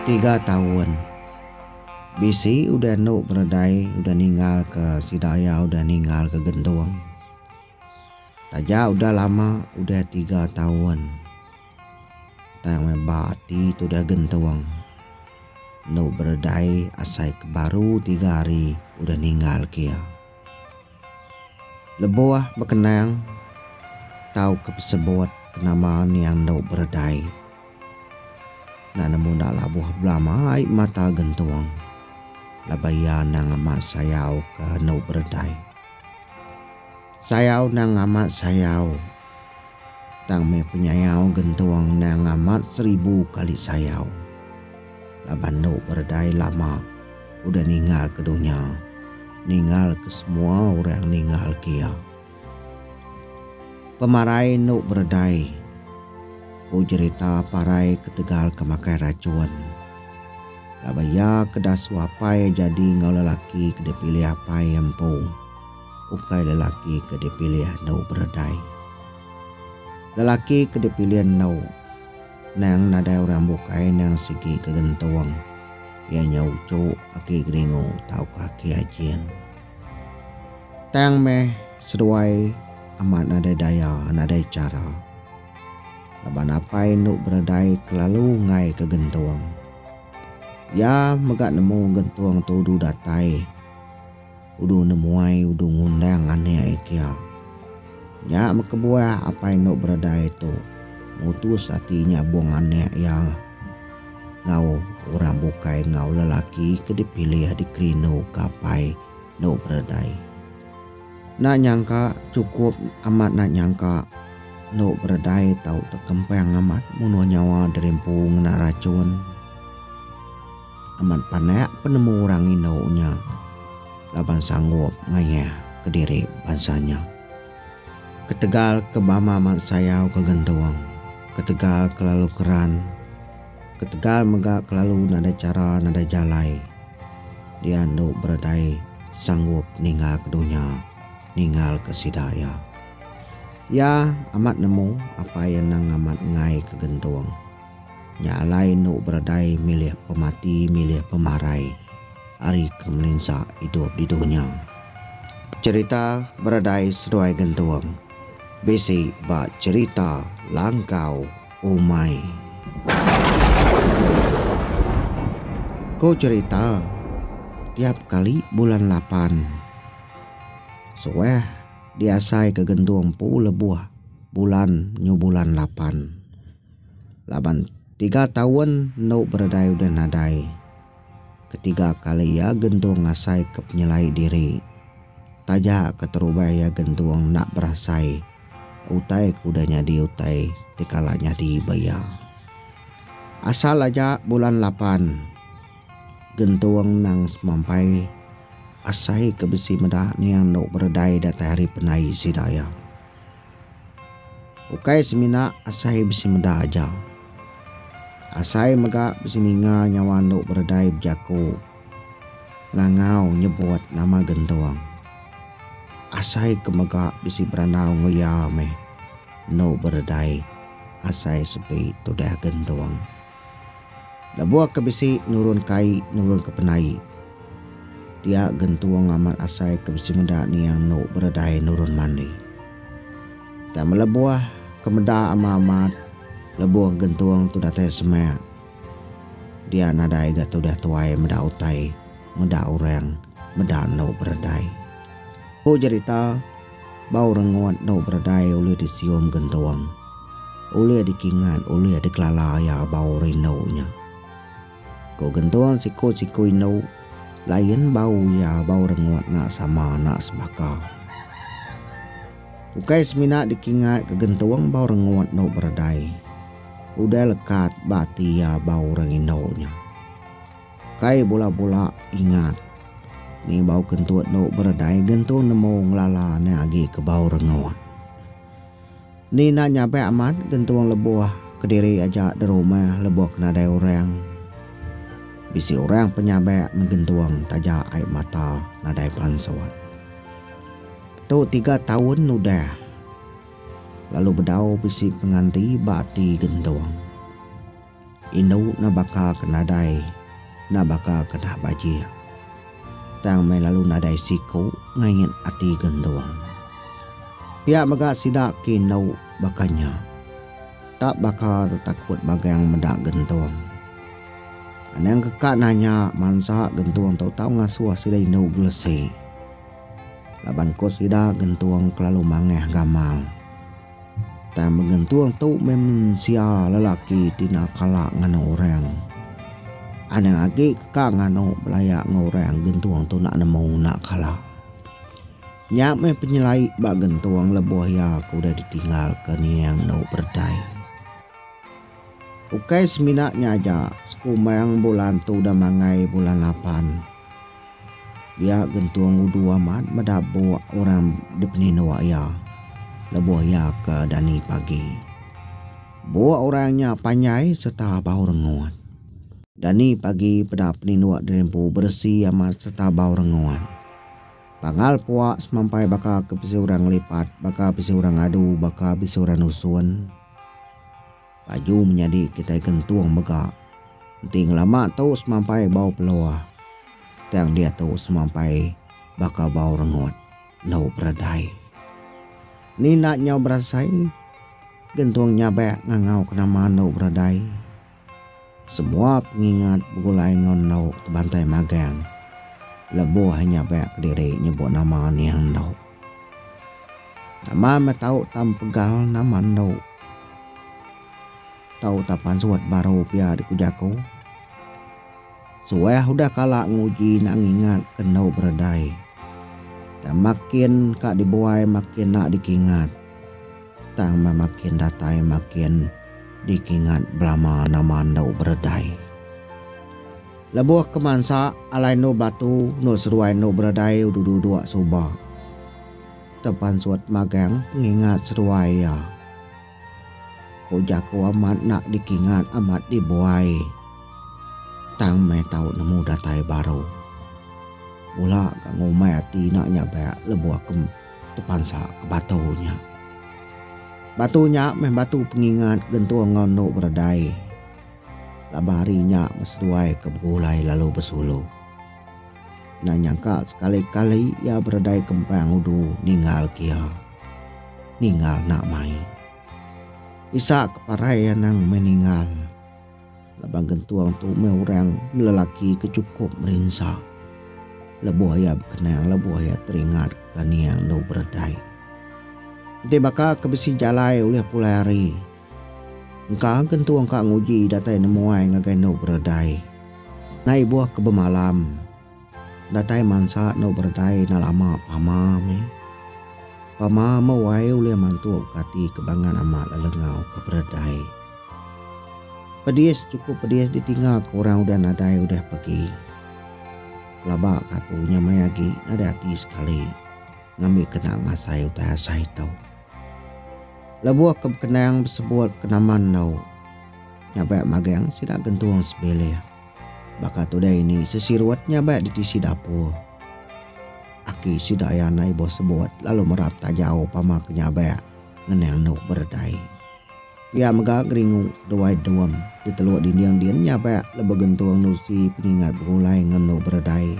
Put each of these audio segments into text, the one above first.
Tiga taun. Bisi udah enu penedai udah ninggalka sida iya udah ninggalka gentung. Taja udah lama udah tiga taun. Tang meh ba ati tudah gentung. Enu beredai asai ke baru tiga hari udah ninggal ke iya. Lebuh bekenang tauka besebut ke nama niang enu beredai. Enda nemu enda labuh belama ai mata gentung laban iya anang amat sayauka enu beredai. Sayau endang amat sayau. Tang meh penyayau gentung endang amat seribu kali sayau. Laban endo beredai lama udah ninggal ke dunya, ninggal ke semua orang ninggal ke iya. Pemarai endo beredai, ku jerita parai ketegal ke makai racun. Laban iya ke dasuh apai jadi enggau lelaki ke dipilih apai empu. ukai lelaki ke dipilih endu beredai. Lelaki ke dipilih endu endang nadai orang bukai endang sigi ke gentung, iya nya uchu, aki geringu tauka aki ajin. Tang meh seduai amat nadai daya, nadai chara. Laban apai endu beredai kelalu ngaika gentung. Iya mega nemu gentung tu udu datai. Udu nemuai udu ngundang anek iya. Nya bekebuah apai endu beredai tu mutus ati nyabung anek iya enggau orang bukai enggau lelaki ke dipilih dikerinduka apai endu beredai. Enda nyangka chukup amat enda nyangka endu beredai tau tekempang amat munuh nyawa derimpu ngena rachun. Amat panak penemu orang indu nya laban sanggup ngayah kediri bansa nya. Ketegal ke bama mat sayau ke gentung, ketegal ke lalu keran, ketegal mega ke lalu nadai chara nadai jalai dia endo beredai sanggup ninggal ke dunya ninggal ke sida iya. Iya amat nemu apai anang amat ngai ke gentung. Nya alai enu beradai milih pemati milih pemarai ari ke melinsa idup di dunya. Cherita beradai seduai gentung bisi ba cherita langkau umai. Ko cherita tiap kali bulan lapan suah diasai ke gentung empu lebuh bulan nyu bulan lapan. Laban tiga taun endo beredai udah nadai ketiga kali iya gentung ngasaika penyelai diri. Taja keterubah iya gentung enda berasai utai ke udah nyadi utai ti kala nyadi ba iya. Asal aja bulan lapan, gentung nang semampai asai ke bisi meda niang endo beredai datai hari pendai sida iya. Ukai semina asai bisi meda aja. Asai mega bisi ninga nyawa endo beredai bejako ngangau nyebut nama gentung. Asai ke mega bisi berandau enggau iya meh endo beredai asai sepi tudah gentung. Lebuh ke bisi nurun kai nurun ke penai. Dia gentung amat asai ke bisi meda niang enu beredai nurun mandi. Tang melebuh ke meda ama amat lebuh gentung tu datai semak. Dia nadai ga tudah tuai meda utai, meda orang, meda enu beredai. Ku jerita. Bau rengut endu beredai ulih disium gentung, ulih dikingat, ulih dikelala iya bau rindu nya. Ku gentung siku-siku indu, lain bau iya bau rengut enda sama enda sebaka. Ukai semina dikingat ke gentung bau rengut endu beredai, udah lekat ba ati iya bau orang indu nya. Kai bula-bula ingat. Ni bau kentut endo beredai gentu nemu ngelala ne agi ke bau rengut. Ni enda nyapai amat gentung lebuh kediri aja derumah lebuh ke nadai orang. Bisi orang penyabak meh gentung taja ai mata nadai pansut. Tu tiga taun udah lalu bedau bisi penganti ba ati gentung. Indu enda baka ke nadai, enda baka ke dah bajik. Tang meh lalu nadai siku ngain ati gentung. Pia mega sida ke indu baka nya. Tak baka tetakut magang meda gentung. Anang ke ka nanya mansa gentung tu tau ngasuh sida indu gelesi. Laban ku sida gentung kelalu mangah gamal. Tang mengentung tu meh mensia lelaki ti enda kala nganu orang. Anang agi ke ka nganu belaya enggau orang gentung tu enda nemu enda kala. Nya meh penyelai ba gentung lebuh iya ke udah ditinggal ke niang endu beredai. Ukai semina nya aja, sekumang bulan tu udah mangai bulan lapan. Dia gentung udu amat meda buk orang dipeninduk iya lebuh iya ke dani pagi. Buk orang nya panjai sereta bau rengut. Dani pagi peda peninduk diri empu beresi amat sereta bau rengut. Pangal puak semampai baka ke bisi orang ngelipat, baka bisi orang adu, baka bisi orang nusun. Baju menyadi kitai gentung mega. Enti ngelama tu semampai bau pelua, tang diatu semampai baka bau rengut endu beredai. Ni enda nyau berasai gentung nyabak ngangau ke nama endu beredai. Semua pengingat begulai enggau endu ti bantai magang lebuh inya baya kediri nyebut nama aning endu. Nama meh tau tam pegal nama endu tau tam pansut baru pia di ku jaku. Suah udah kala nguji enda ngingat ke endu beredai. Tang makin ka dibuai makin enda dikingat. Tang meh makin datai makin dikingat belama nama endo beredai. Lebuh ke mansa alai endo batu endo seruai endo beredai udah duduk suba tepansut magang pengingat seruai iya. Ku jaku amat enda dikingat amat dibuai. Tang meh tau nemu datai baru. Mula ka ngumbai ati enda nyabak lebuh ke. Tepansa ke batu nya. Batu nya meh batu pengingat gentung enggau endu beredai. Laban hari nya meh seduai ke begulai lalu besulu. Endang nyangka sekali-kali iya beredai kempang udu ninggal ke iya. Ninggal enda mai. Isak ke parai anang meh ninggal. Laban gentung tu meh orang lelaki ke chukup merinsa lebuh iya bekenang lebuh iya teringatka nia enggau beredai. Enti baka ke bisi jalai ulih pulai hari, engka gentung ka nguji datai nemuai ngagai enggau beredai. Nai ibuh ke bemalam. Datai mansa endo beredai enda lama pama meh. Pama meh wai ulih mantuk ke ati kebangan amat lelengau ke beredai. Pedis chukup pedis ditinga ke orang udah nadai udah pegi. Pelaba ke aku nya maya agi nadai ati sekali ngambi kena ngasai utai asai tu. Lebuh ke bekenang besebut ke nama endo nya bek magang sida gentung sebilih. Baka tudah ini sesirut nya baik ditisi dapur. Aki sida iya andai ibuh sebut lalu merap tajau pama ke nyabak ngenang endur beredai. Pia mega geringu Duai Duem di Teluk Dinding din nyabak lebuh gentung nusi pengingat begulai enggau endur beredai.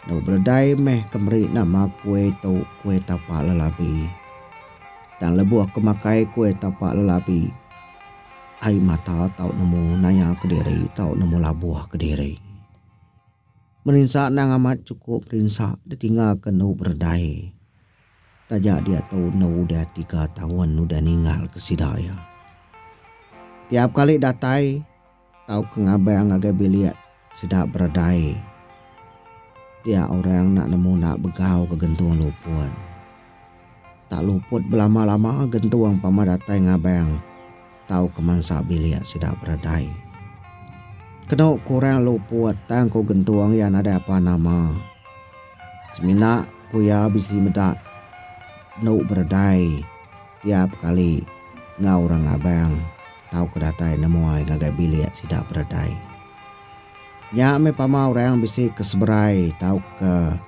Endur beredai meh ke meri nama kuih tu Kuih Tapak Lelabi. Tang lebuh ke makai kuih tapak lelabi, Ai mata tau nemu naya kediri tau nemu labuh kediri. Merinsa endang amat chukup rinsa ditinggalka endu beredai taja diatu endu udah tiga taun udah ninggalka sida iya. Tiap kali datai tauka ngabang ngagai bilik Sida beredai dia orang enda nemu enda begau ke gentung lupun. Tak luput belama-lama gentung pama datai ngabang tauka mansa bilik sida beredai. Kenu ku orang luput tang ku gentung iya nadai apa nama. Semina ku iya bisi meda enu beredai. Tiap kali enggau orang Abang tauka datai nemuai ngagai bilik sida beredai. Nya meh pama orang bisi ke seberai tauka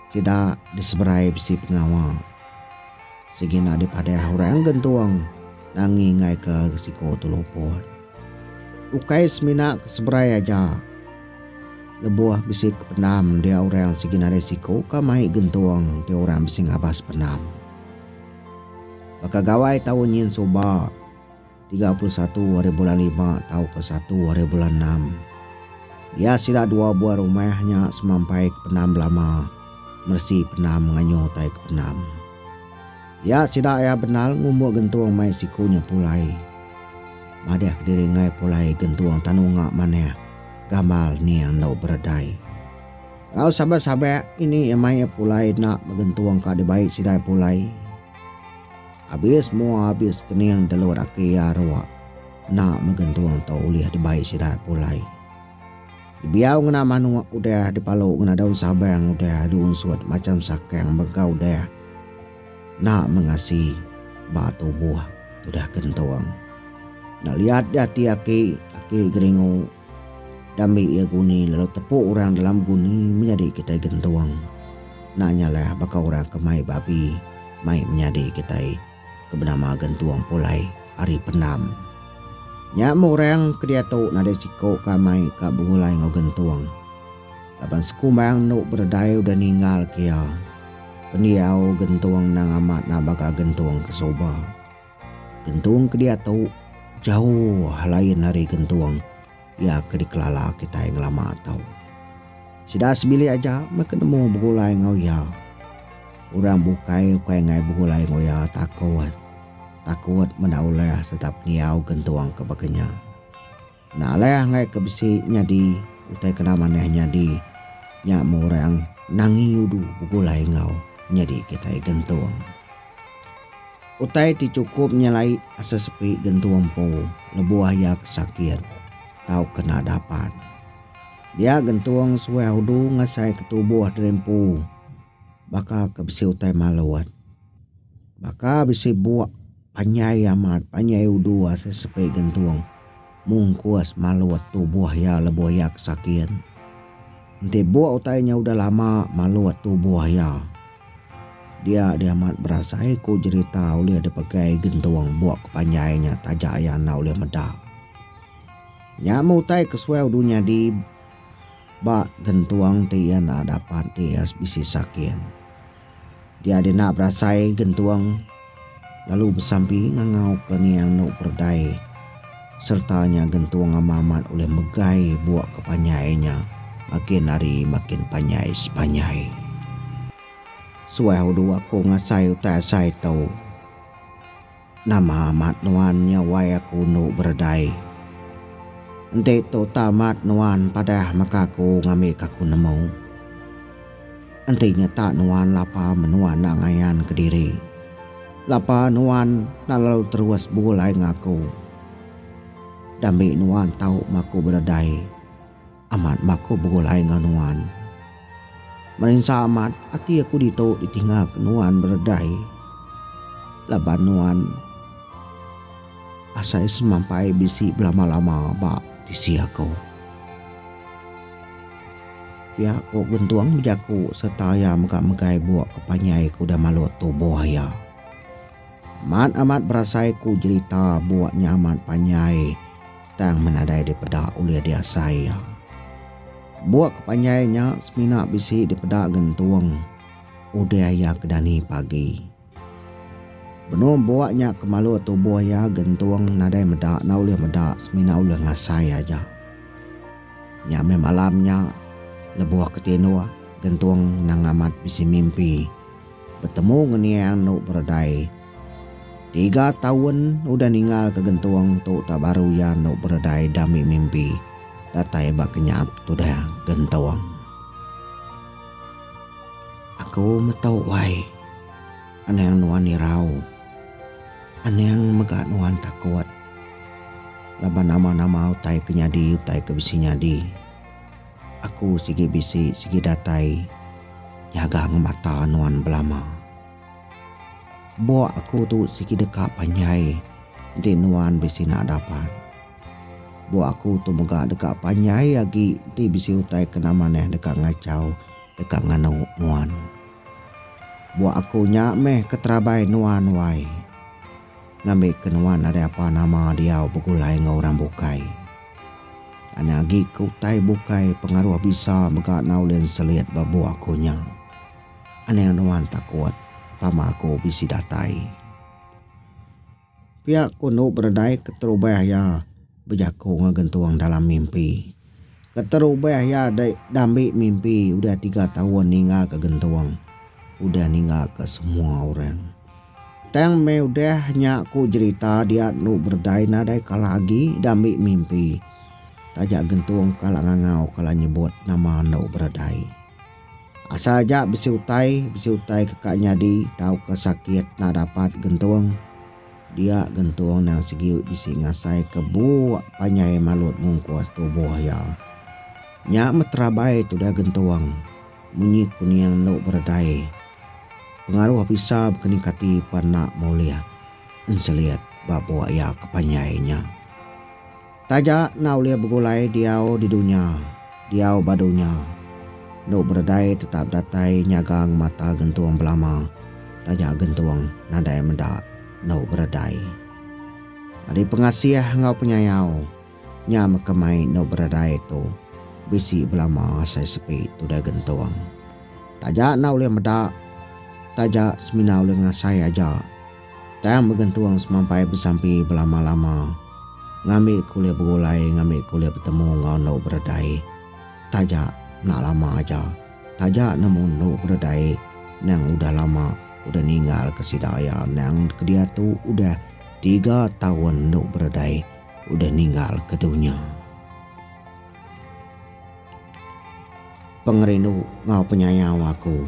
sida diseberai bisi pengawa. Sigi enda dipadah orang gentung nangi ngaika siko tu luput. Ukai semina ke seberai aja lebuh bisi ke pendam dia orang sigi nadai siko ka mai gentung ti orang bisi ngabas pendam. Baka gawai tau nyin suba, tiga puluh satu ari bulan lima tauka satu ari bulan enam, iya sida dua buah rumah nya semampai ke Penam Belama, Meresi Penam Nganyo utai ke Penam. Iya sida iya benal ngumbuk gentung mai siku nya pulai. Madah kediri enggai pulai gentung tanu nya manah, gamal ning enggau beredai. Enggau sabak-sabak ini iya mai iya pulai enda megentung ka dibai sidai pulai. Abis mua abis kening telu laki iya arok enda megentung tu ulih dibai sidai pulai. Dibiau ngena manuk udah dipalu ngena daun sabang udah diunsut macam sakang mega udah enda mengasi ba tubuh udah gentung. Enda liat di ati aki, aki geringu. Dambi iya guni lalu tepu orang dalam guni menyadi kitai gentung. Enda nyalah baka orang ke mai babi mai menyadi kitai ke benama gentung pulai ari pendam. Nya meh orang ke diatu nadai siku ke amai ka begulai enggau gentung. Laban sekumbang enu beredai udah ninggalka iya. Pendiau gentung endang amat nabaga gentung ke suba. Gentung ke diatu jauh lain ari gentung iya ke dikelala kitai ngelama tu. Sida sebilik aja meh ke nemu begulai enggau iya. Orang bukai ukai angai begulai enggau iya takut. Takut meda ulih sereta pengiau gentung ke baka nya. Enda alai anggai ke bisi nyadi utai kena manah nyadi nya meh orang Nangi Udu begulai enggau nyadi kitai gentung. Utai ti chukup nyelai asa sepi gentung empu lebuh iya ke sakit tauka enda dapat. Dia gentung suah udu ngasaika tubuh diri empu baka ke bisi utai malut. Baka bisi buk. Panjai amat, panjai udu asa sepi gentung. Mungkus malut tubuh iya lebuh iya ke sakin. Enti buk utai nya udah lama malut tubuh iya. Dia dia amat berasai ku jerita ulih dipegai gentung buk ke panjai nya taja iya enda ulih meda. Nya meh utai ke suai udu nyadi ba gentung ti iya enda dapat ti iya bisi sakin. Dia dina berasai gentung lalu besampi ngangau ke niang nu perdai serta nya gentung amat-amat ulih megai buak ke panjai nya makin hari makin panjai sepanjai. Suah udu aku ngasai utai asai tu. Nama amat nuan nyawai aku endo beredai? Enti tu tau amat nuan padah maka aku ngambika aku nemu. Enti nyata nuan lapa menua enda ngayan kediri, lapa nuan enda lalu terus begulai enggau aku. Dambi nuan tau maku beredai. Amat baku begulai enggau nuan. Merinsa amat ati aku ditu ditinggalka nuan beredai laban nuan asai semampai bisi belama-lama ba tisi aku. Pia ku Gentung bejaku sereta iya mega megai buk ke panjai ke udah malut tubuh iya. Mat amat berasai ku jerita bua nya amat panjai tang menadai dipeda ulih diasai iya. Bua ke panjai nya semina bisi dipeda gentung udah iya ke dani pagi. Benung bua nya ke malu tubuh iya gentung nadai meda enda ulih meda semina ulih ngasai aja. Nya meh malam nya lebuh ke tinduk gentung nang amat bisi mimpi. Betemu ngeningang enu beredai. Tiga taun udah ningalka gentung tu tau baru iya enu beredai dami mimpi datai ba kenyaap tudah gentung. Aku metu wai. Anang nuan irau. Anang mega nuan takut. Laban nama-nama utai ke nyadi utai ke bisi nyadi. Aku sigi bisi sigi datai nyaga ngemata nuan belama. Bok aku tu sigi deka panjai enti nuan bisi enda dapat. Bok aku tu mega deka panjai agi enti bisi utai ke nama neh deka ngachau deka nganu nuan. Bok aku nya meh ke terabai nuan wai. Ngambika nuan nadai apa nama diau begulai enggau orang bukai. Anak agi ke utai bukai pengaruh bisa mega enggau len selit ba bua aku nya. Anang nuan takut tama aku bisi datai. Pia ku enu beredai keterubah iya bejaku enggau gentung dalam mimpi. Keterubah iya diambi mimpi udah tiga taun ninggalka gentung udah ninggalka semua orang. Tang meh udah nya ku jerita dia enu berdai nadai kala agi diambi mimpi. Taja gentung kala ngangau kala nyebut nama enu berdai. Asal aja bisi utai, bisi utai ke ka nyadi tauka sakit enda dapat gentung. Dia gentung nang sigi bisi ngasai ke buk panjai malut mungkus tubuh iya. Nya meh terabai tudah gentung munyi kuning enu berdai. Pengaruh bisa bekening kati pan enda molih enselit ba bua iya ke panjai nya. Taja enda ulih begulai diau di dunya, diau ba dunya. Enu beredai tetap datai nyagang mata gentung belama taja gentung nadai meda enu beredai. Ari pengasih enggau penyayau. Nya mega mai endur beradai tu bisi belama asai sepi tudah gentung. Taja enda ulih meda, taja semina ulih ngasai aja. Tang begentung semampai besampi belama-lama ngambi ke ulih begulai ngambi ke ulih betemu enggau endur beradai. Taja enda lama aja, taja nemu endur beradai endang udah lama udah ninggalka sida iya endang ke diatu udah tiga taun endur beradai. udah ninggal ke dunya. Pengerindu enggau penyayau aku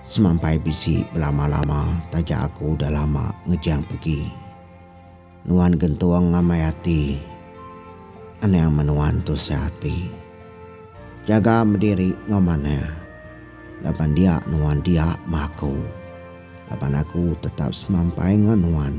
semampai bisi belama-lama taja aku udah lama ngejang pegi. Nuan gentung ngamai ati anang menuan tusah ati. Jaga bediri enggau manah laban dia nuan dia ma aku laban aku tetap semampai enggau nuan.